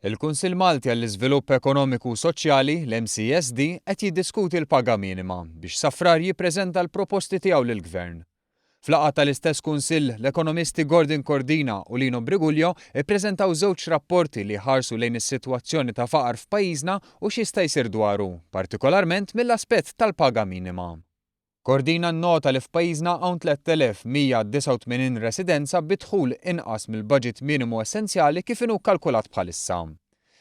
Il-Kunsill Malti għall-Iżvilupp Ekonomiku u Soċjali, l-MCSD, qed jiddiskuti l-paga minima biex sa Frar jippreżenta l-proposti tiegħu lill-Gvern. F'laqgħa tal-istess Kunsill, l-ekonomisti Gordon Cordina u Lino Briguglio ppreżentaw żewġ rapporti li jħarsu lejn is-sitwazzjoni ta' faqar f'pajjiżna u x'jista' jsir dwaru, partikolarment mill-aspett tal-paga minima. Cordina nnota li f'pajjiżna hawn 3,189 residenza bi dħul inqas mill-baġit minimu essenzjali kif inhu kkalkulat bħalissa.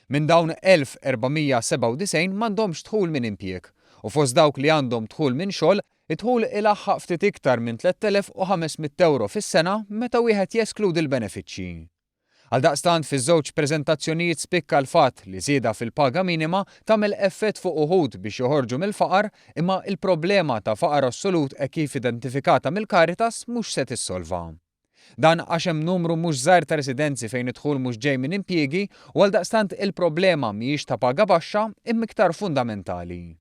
Minn dawn 1,497 m'għandhomx dħul minn impjieg u fost dawk li għandhom dħul minn xogħol, id-dħul ilaħħaq ftit iktar minn 3,500 ewro fis-sena meta wieħed jeskludi l-benefiċċji. Għaldaqstant, fiż-żewġ preżentazzjonijiet spikka l-fatt li żieda fil-paga minima tagħmel effett fuq uħud biex joħorġu mill-faqar, imma l-problema ta' faqar assolut hekk kif identifikata mill-Caritas mhux se tissolvha. Dan għax hemm numru mhux żgħir ta' residenzi fejn id-dħul mhux ġej minn impjiegi u għaldaqstant il-problema mhijiex ta' paga baxxa imma iktar fundamentali.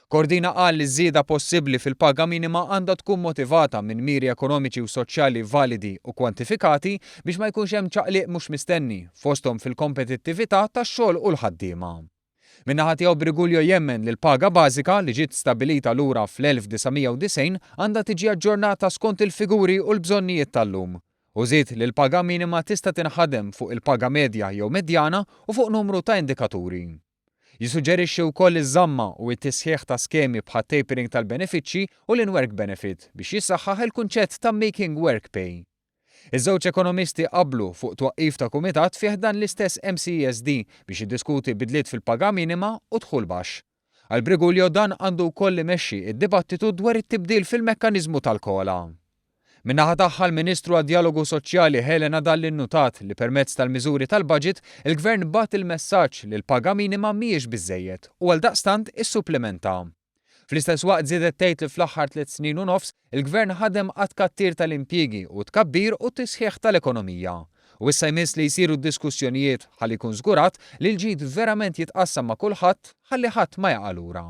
Cordina qal li ż-żieda possibbli fil-paga minima għandha tkun motivata minn miri ekonomiċi u soċjali validi u kwantifikati biex ma jkunx hemm ċaqliq mhux mistenni, fosthom fil-kompetittività tax-xogħol u l-ħaddiema. Min-naħa tiegħu Briguglio jemmen li l-paga bażika, li ġiet stabbilita lura fl-1990, għandha tiġi aġġornata skont il-figuri u l-bżonnijiet tal-lum, u żied li l-paga minima tista' tinħadem fuq il-paga medja jew medjana u fuq numru ta' indikaturi. Jissuġġerixxi wkoll iż-żamma u t-tisħiħ ta' skemi bħat-tapering tal-benefiċċji u l-in-work benefit biex jissaħħaħ il-kunċett ta' making work pay. Iż-żewġ ekonomisti qablu fuq twaqqif ta' kumitat fi ħdan l-istess MCESD biex jiddiskuti bidliet fil-paga minima u dħul baxx. Għal Briguglio dan għandu wkoll imexxi d-dibattitu dwar it-tibdil fil-mekkaniżmu tal-COLA. Min-naħa tagħha l-Ministru għad-Djalogu Soċjali Helena Dalli nnutat li permezz tal-miżuri tal-Budget il-Gvern bagħat il-messaġġ li l-paga minima mhijiex biżżejjed u għaldaqstant issupplimenta. Fl-istess waqt żiedet tgħid li fl-aħħar tliet snin u nofs il-Gvern ħadem għat-tkattir tal-impjiegi u t-tkabbir u t-tisħiħ tal-ekonomija u issa jmiss li jsiru d-diskussjonijiet ħalli jkun żgurat li l-ġid verament jitqassam ma' kulħadd ħalli ħadd ma jaqa' lura.